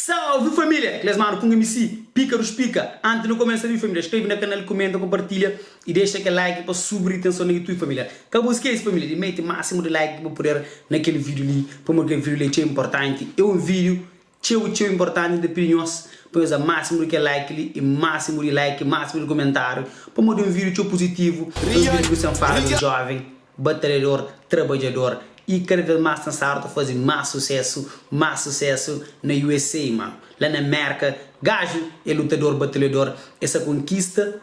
Salve família! Kles manu punga mc pika dos pika anti nu komesa ri família skrebe na kanal kumenta ku partilha y dexa kel like pa subi ri tenson na youtube família ka bu skese família di mete másimu di like ki bu puder na kel video li pamodi kel video li é txeu inportanti é un video txeu txeu inportanti nta pidi nhos pa nhos da másimu di kel like li y másimu di like y másimu di kumentáriu pamodi é un video txeu puzitivu é un video ku sen fala di un joven. batalhador, trabadjador y kada vez más ten stadu ta fazi más sucesso, más sucesso na usa mano, la na merca gajo é lutador batalhador é sa conquista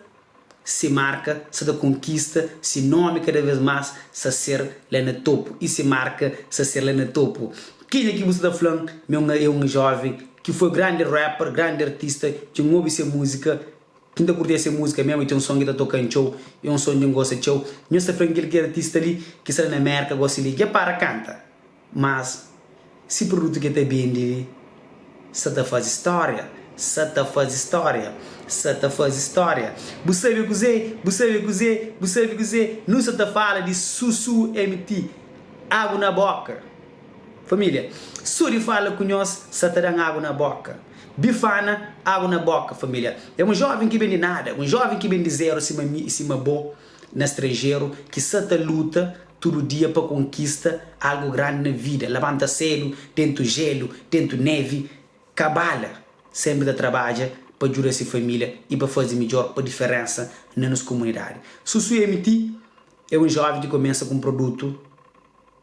se marca sa ta conquista se nome cada vez más sa ser la na topo y se marca sa ser la na topo kenha ki bu sa ta flan me é um jovem ki foi grande rapper grande artista dja n'obi se musica Ki nta kurtê se múzika mesmo i ten un son ki ta tokan txeu i é un son di N gosta txeu. Nhos ta fla-m kel ki é artista li ki sta la na Mérka gosi li, dja para kanta. Mas si produtu ki el ta bendi li sa ta faze stória, sa ta faze stória, sa ta faze stória. Bu sabe kuzê? Bu sabe kuzê? Bu sabe kuzê? Nu sa ta fala di Susu MT, Agu na Bóka. Família, Suri fala ku nhos sa ta da-m agu na bóka. Bifana, Agu na bóka, família? É un jóven ki ben di nada, un jóven ki ben di zeru sima mi i sima bo na stranjeru ki sa ta luta tudu dia pa konkista algu grandi na vida, labanta sédu, déntu jélu, déntu névi, ka bala, sénpri ta trabadja pa djuda se família i pa faze midjór pa diferénsa na nos komunidadi. Susu MT é un jóven ki kumesa ku un produtu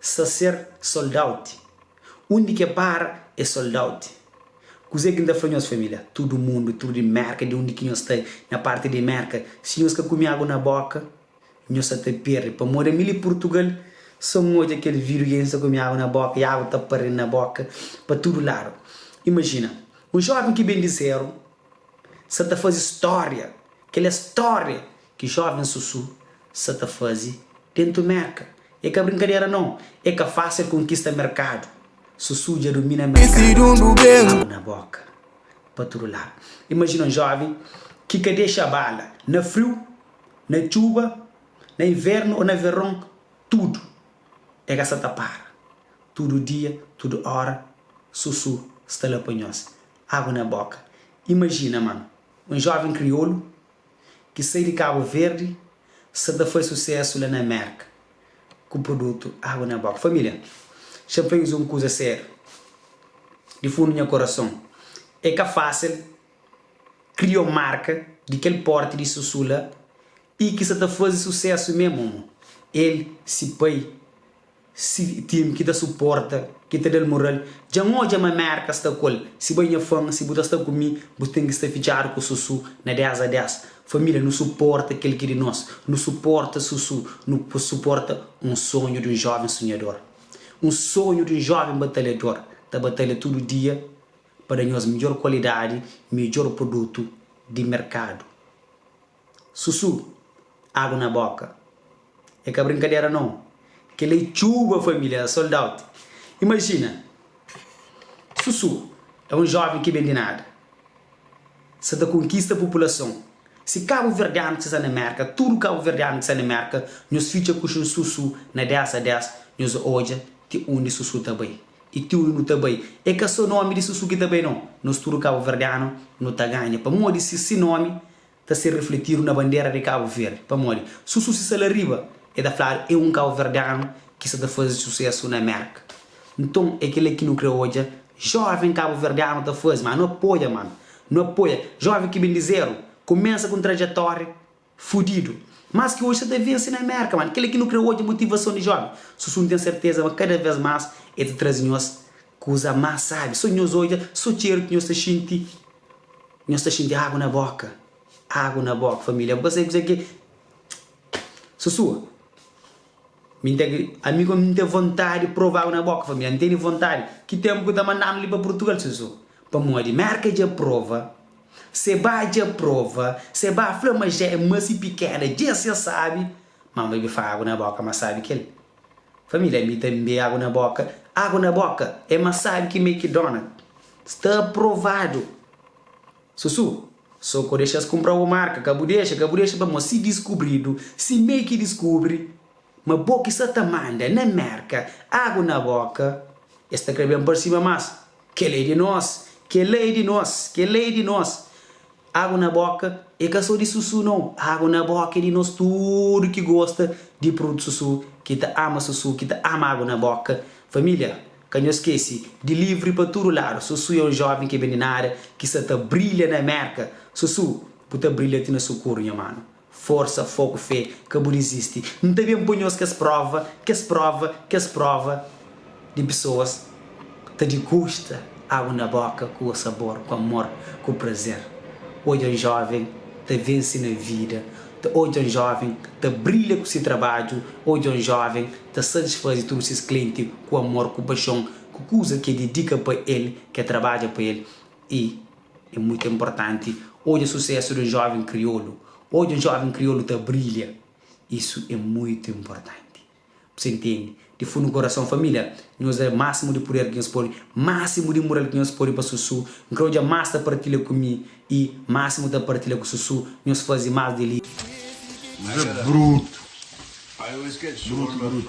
sta ser soldauti undi ke para e soldauti kuze ki nta fla nhos familia tudu mundu tudu di merka di undi ki nhos sta na parti di merka si nhos ka kumi agu na boka nhos sa ta perdi pamodi ami li purtugal sa un odja kel vidio ki nsa kumi agu na boka i agu ta pardi na boka pa tudu ladu imajina un joven ki ben di zeru sa ta fazi storia kel é storia Ki joven susu sa ta fazi tentu merka e ka brinkadera nau e ka facil konkista merkadu susu dja domina merkadu agu na boka pa tudu ladu imajina un joven ki ka dexa bala na friu na txuba na invernu o na veron tudu e ka sa ta para tudu dia tudu ora susu sta la pa nhos agu na boka imajina mano un joven kriolu ki sai di Kabu Verdi sa ta fai susesu la na Mérka ku prudutu Água na Boka. Família, xa fla nhos un kuza sériu, di fundu nha korason, é ka fásil kria un marka di kel pórti di Susu la i ki sa ta faze susesu mé momo el, si pai, Si tim ki ta suporta, ki ta da-l moral, dja N odja ma Mérka sta ku el. Si bai nha fan, si bu ta sta ku mi, bu ten ki sta fitxadu ku Susu na dés a dés. Família, nu suporta kel ki di nos. Nu suporta Susu. Nu pô suporta un sonhu di un jóven sonhador. Un sonhu di un jóven batalhador. Ta batalha tudu dia pa da nhos midjór kualidadi, midjór produtu di merkadu. Susu, agu na boka. É ka brinkadera no. Kel-la é txuba família, é sold out. Imajina! Susu é un jóven ki ben di nada, sa ta konkista populason. Si kabuverdianu ki sta na Mérka, tudu kabuverdianu ki sta na Mérka, nhos fitxa kuxin Susu na 10 a 10, nhos odja ti undi Susu ta bai. I ti undi nu ta bai, é ka sô nómi di Susu ki ta bai no. Nos tudu kabuverdianu, nu ta ganha pamodi si si nómi ta ser refletidu na bandera di Kabu Verdi, pamodi su susisa la riba e ta fladu e un kabuverdianu ki sa ta fazi susesu na Mérka. Nton e kila ki nu kre odja joven kabuverdianu ta fazi, ma nu apoia man, nu apoia joven ki ben di zeru, kumensa ku un trajetória fudidu, mas ki odja sa ta vensi na Mérka man, kila ki nu kre odja motivason di joven, susu nu ten serteza ma kada vez mas e ta trazi nhos Kuza más sábi, so nhos odja, so txeru ki nhos ta xinti, nhos ta xinti agu na bóka, agu na bóka, família, bu ka sai kuzê ki é susua? Mi N ta gri, ami kónde N ten vontadi di prova agu na bóka, família, N tene vontadi, ki ténpu ki ta manda-m li pa Purtugal, susua? Pamodi Mérka dja prova, Sebá dja prova, Sebá fla ma Jé é más i pikéda, djéss dja sábi, má N bai ben fla agu na bóka más sábi ki el. Família ami ta nbe agu na boka agu na boka é mas sabi ki mcdonald sta aprovado susu so ko dexas kunpra u marka ka bu dexa ka bu dexa pamo si diskubridu si mec diskubri ma bo ki sa ta manda na merka agu na boka es ta kre ben parsima mas kela é di nos kela é di nos kela é di nos Agu na boka é ka so di Susu no, agu na boka é di nos tudu ki gosta di prudu Susu, ki ta ama Susu, ki ta ama agu na boka. Família, ka nhos skese di livri pa tudu ladu, Susu é un joven ki ben di nada, ki sa ta brilha na Merka. Susu, bu ta brilha ti na sukuru, nha manu. Forsa, fogu, fé, ka bu dizisti. N ta ben pa-nhos kes prova, kes prova, kes prova di pesoas ta digusta agu na boka ku sabor, ku amor, ku prazer. Odja un jóven ta vense na vida, ta odja un jóven ta brilha ku se trabadju, odja un jóven ta satisfaze tudu ses klienti ku amor, ku paxon, ku kuza ki e dedika pa el, ki e trabadja pa el i. É mutu inportanti odja susésu di un jóven kriolu, odja un jóven kriolu ta brilha. Isu é mutu inportanti. Bu sta intende? Di fundu di korason, família, nhos da másimu di puder ki nhos pode, másimu di mural ki nhos pode pa Susu. N krê odja más ta partilha ku mi i, másimu ta partilha ku Susu. Nhos faze más di li. Nhos é brutu, brutu, brutu.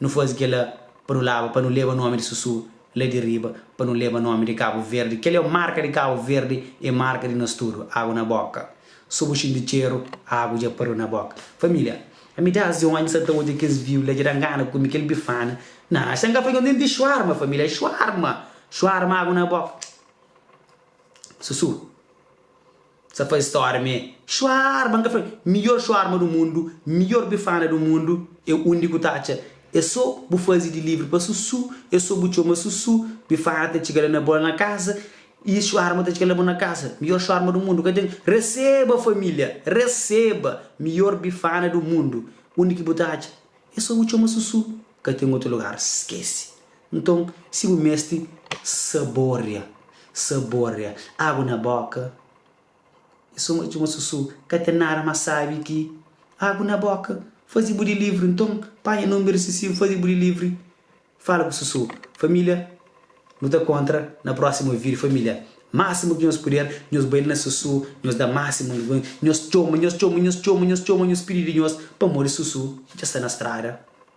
Nu faze kel-la pa nu laba, pa nu leba nómi di Susu la di riba, pa nu leba nómi di Kabu Verdi. Kel-li é marka di Kabu Verdi, é marka di nos tudu. Agu na bóka. Sô bu xinti txeru, agu dja pariu na bóka. Família, ami dés di onti sa ta odja kes viu la, dja da ngana ku mi, kel bifana. Na, es ta ngafla djuntu, denti xuarma, família, xuarma, xuarma, agu na bóka. Susu. Sa faze stória m'é Xuarba, n'ka fla-l Midjór xuarba du mundu, midjór bifana du mundu é undi ku ta atxa É so bu faze di livri pa Susu É so bu txoma Susu Bifana ta txiga la na bo la na kasa Y xuarba ta txiga la na bo na kasa Midjór xuarba du mundu ka ten Reseba família, reseba Midjór bifana du mundu, undi ki bu ta atxa É so bu txoma Susu Ka ten otu lugar, skese Nton, si bu meste saboria, saboria agu na boka, e suma di un susu, ka ten nada mas sabi ki agu na boka fazi bu di livri, nton panha nunber di sisi, fazi bu di livri, fala ku susu. Familia, nu ta kontra na prosimu video familia, masimu ki nhos puder nhos bai li na susu, nhos da masimu, nhos txoma, nhos txoma, nhos txoma, nhos txoma, nhos pidi di nhos pamodi susu dja sta na strada.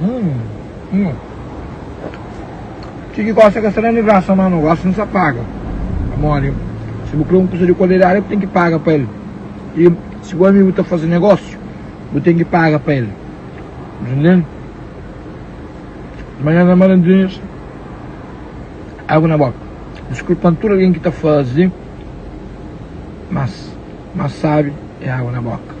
Hum, hum. Ti ki gosta ka sta na livrar sa mano gosta no sa paga. Amore, si bu kre un kusa di kualidade bu tem ki paga pa el. E si bu amigu ta fase negosio bu tem ki paga pa el. Entendendo? Mas nada malandrinhos, água na boca. Desculpando tudo alguém que está fazendo, mas, mas sabe, é água na boca.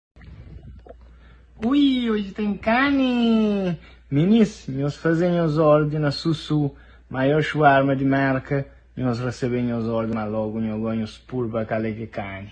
Ui, oji ten kani! Minis, nhos faze nhos ordi na Susu, maior shuarma di Merka, nhos rasebe nhos ordi ma logu nho go nhos purba kale ki kani.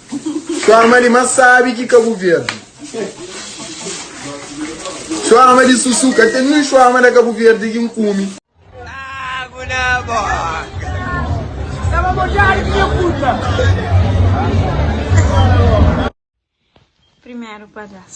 Txoma di ma sabi ki ka bu verdi Txoma di susu ka ten nin txoma da ka bu verdi ki nkume Agu na boka Staba mojadu ki nha puta Primeru padas